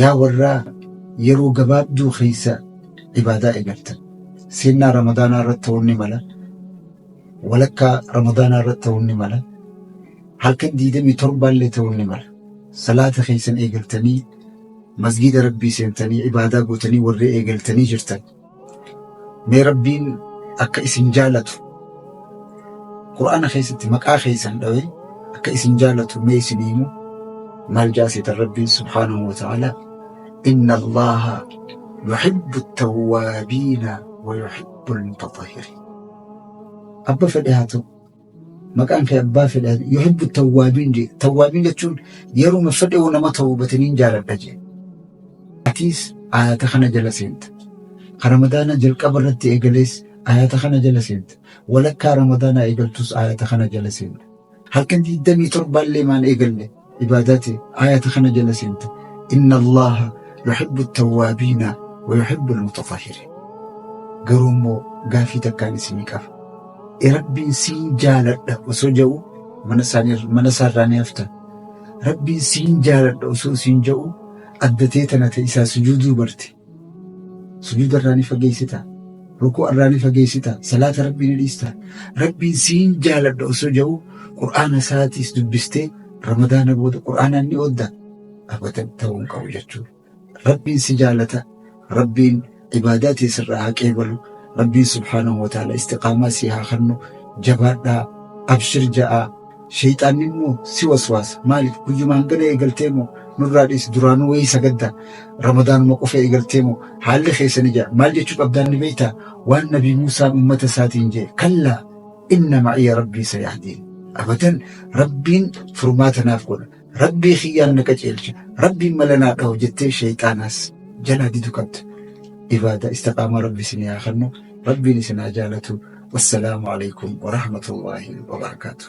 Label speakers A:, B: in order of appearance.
A: Yaa warraa yeroo gabaabduu keessa ibaadaa eegaltan. Seennaa Ramadaanaa irratti ta'uun ni mala. Walakkaa Ramadaanaa irratti ta'uun ni mala. Halkan 27 illee ta'uun ni mala. Salaata keessan eegaltanii masgiida Rabbii seentanii ibaadaa gootanii warri eegaltanii jirtan. mee rabbiin akka isin jaalatu qur'aana keessatti maqaa keessan dhawe akka isin jaalatu mee isin himu maal jaasitan rabbiin subhaanahu wa ta'ala inna allaha yuhibbu tawwaabiina wa yuhibbu almutatahhiriin abba fedhe haa ta'u maqaan kee abbaa fedha yuhibbu tawwaabiin jee tawwaabiin jechuun yeruma fedhe yoo nama tawbataniin jaaladha jee atiis ayata kana jala seenta ka ramadaana jalqaba irratti eegalees ayata kana jala seenta walakkaa ramadaanaa eegaltus ayata kana jala seenta halkan digdamii torbaallee maan eegalle ibaadaati ayata kana jala seente inna allaha yuhibbu tawwaabiina wa yuhibbu almutatahhiriin garuu immoo gaafii takkaan isinii qaba e rabbiin siin jaaladha osoo ja'u mana isaanii mana isaarraa ni hafta rabbiin siin jaaladha osoo siin ja'u addatee tana ta isaa sujuuduu barte sujuuda irraa ni fageessita rukuu irraa ni fageessita salaata rabbii ni dhiista rabbiin siin jaaladha osoo jedhu qur'aana isaatiis dubbistee ramadaana booda qur'aanaan ni oodda abatan ta'uu hin qabu jechuudha rabbiin si jaalata rabbiin ibaadaa tee sirraa haa qeebalu rabbiin subhaanahu wa ta'ala istiqaamaa si haa kennu jabaadhaa abshir ja'aa Sheyxaanni immoo si waswaasa. Maaliif guyyuma hangana eegaltee moo nurraa dhiisi duraanuu wayii sagadda ramadaanuma qofa eegaltee moo haalli keessan ija maal jechuu qabdaan ni beektaa waan nabii Muusaan uummata isaatiin jee kallaa inna ma'iya rabbii sayahdiin abadan rabbiin furmaata naaf godha Rabbii kiyyaan na qaceelcha, Rabbiin mala naa dhahu jettee shayxaanaas jalaa didu qabda. Ibaada istiqaamaa Rabbi isin yaa kennu, Rabbiin isin haa jaalatu. Wassalaamu alaikum wa rahmatullahi wa barakaatuh.